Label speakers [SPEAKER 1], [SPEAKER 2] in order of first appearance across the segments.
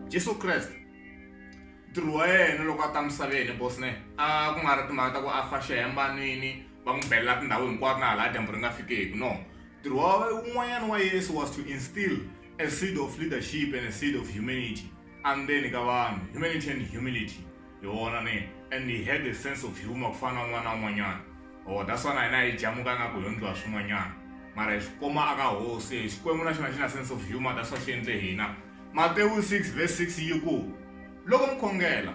[SPEAKER 1] Jesu Kreste ntirho wa yena loko a ta misaveni bosne a ku nga ri timhaka ta ku a fa xihembanwini va n'wi belela tindhawu hinkwato na hala dyambu ri nga fikeki no ntirho wa wun'wanyana wa yesu was to instill a seed of leadership and a seed of humanity andzeni ka vanhu humanity and humility Hi vona ni and he had a sense of humour ku fana na un'wana na un'wanyana. Ohh that's why na hina hi jamuka ingaku hi yo ndliwa swin'wanyana. Mara hi swi kuma aka hosi e Xikwembu na xona xi na sense of humour that's why xi endle hina. Matewu 6 verse 6 yi ku, Loko mi khongela,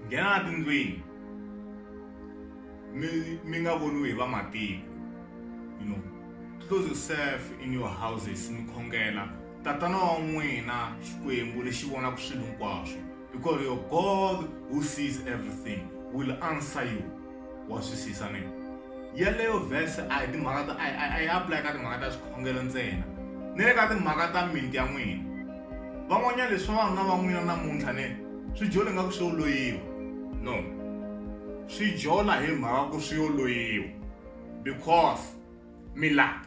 [SPEAKER 1] nghenani a tindlwini mi mi nga voniwi hi va matiko. You know, close yourself in your houses mi khongela. Tatana wa n'wina Xikwembu lexi vonaka swilo hinkwaswo, because your God who sees everything will answer you. Wa twisisa ne? Yaleyo verse a hi timhaka ta a yi apply ka timhaka ta swikhongelo ntsena, ni le ka timhaka ta mimiti ya n'wina. Van'wanyana leswi vavanuna va n'wina namuntlha ne swi jola ingaku swi yo loyiwa. No, swi jola hi mhaka ku swi yo loyiwa because mi lava.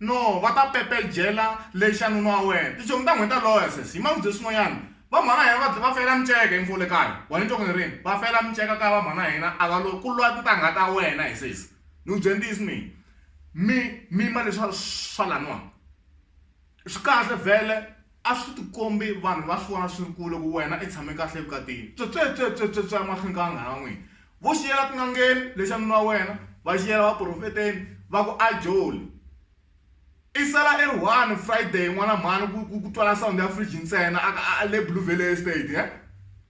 [SPEAKER 1] No, va ta pepejela le xanunu wa wena. Tichomi ta nghweta loya sesi, hi mavibye swin'wanyana. Vamhana hina va va fela miceka info le kaya. Wa ni twa ku ni rini? Va fela miceka kaya vamhana hina a va lwe ku lwa tintangha ta wena he sesi. Ni ku byela ntiyiso mina. Mi mima leswa swa laniwa. Swi kahle vhele. A swi tikombi vanhu va swi vona swi ri ku loko wena i tshame kahle evukatini. Tswetswetswetswetswe emahlweni ka vanghana va n'wina. Vo xi yela tin'angeni lexi xa nuna wa wena, va xi yela vaprofeteni, va ku ajoli. I sala i ri one Friday n'wana mhani ku ku ku twala sound ya fridge ntsena a ka a le Blue Valley Estate he.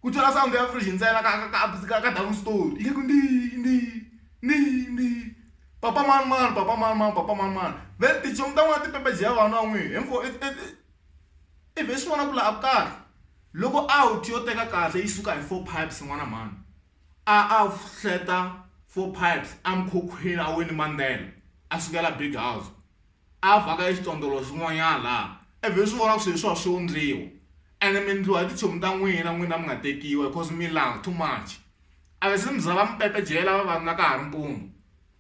[SPEAKER 1] Ku twala sound ya fridge ntsena ka ka ka ka ka double story yi ku ndii ndii ndii ndii. Papa mani mani, papa mani mani, papa mani mani. Then tinchomu ta n'wina ti pepejeha vana va n'wina hinkwavo i i i i vhe swi vona ku laha a ku karhi loko out yo teka kahle yi suka hi four pipes n'wana mhani a a hleta four pipes a mikhukhwini a wini mandzhela a sukela big house. A a vaka exitondolo xin'wanyana laha a byi swi vona ku swilo swa swi wundliwa ene mi ndliwa hi titshomi ta n'wina n'wina mi nga tekiwa because mi langa too much a va se mi za va mi pepejela vavanuna ka ha ri mpundzu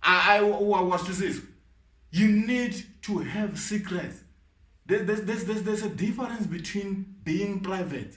[SPEAKER 1] a a wa wa swi twisisa you need to have secrets there's there's there's there's a difference between being private.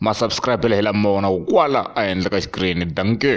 [SPEAKER 1] ma subscribe la hi lama vonaku kwala ehenhla ka xikirini dankie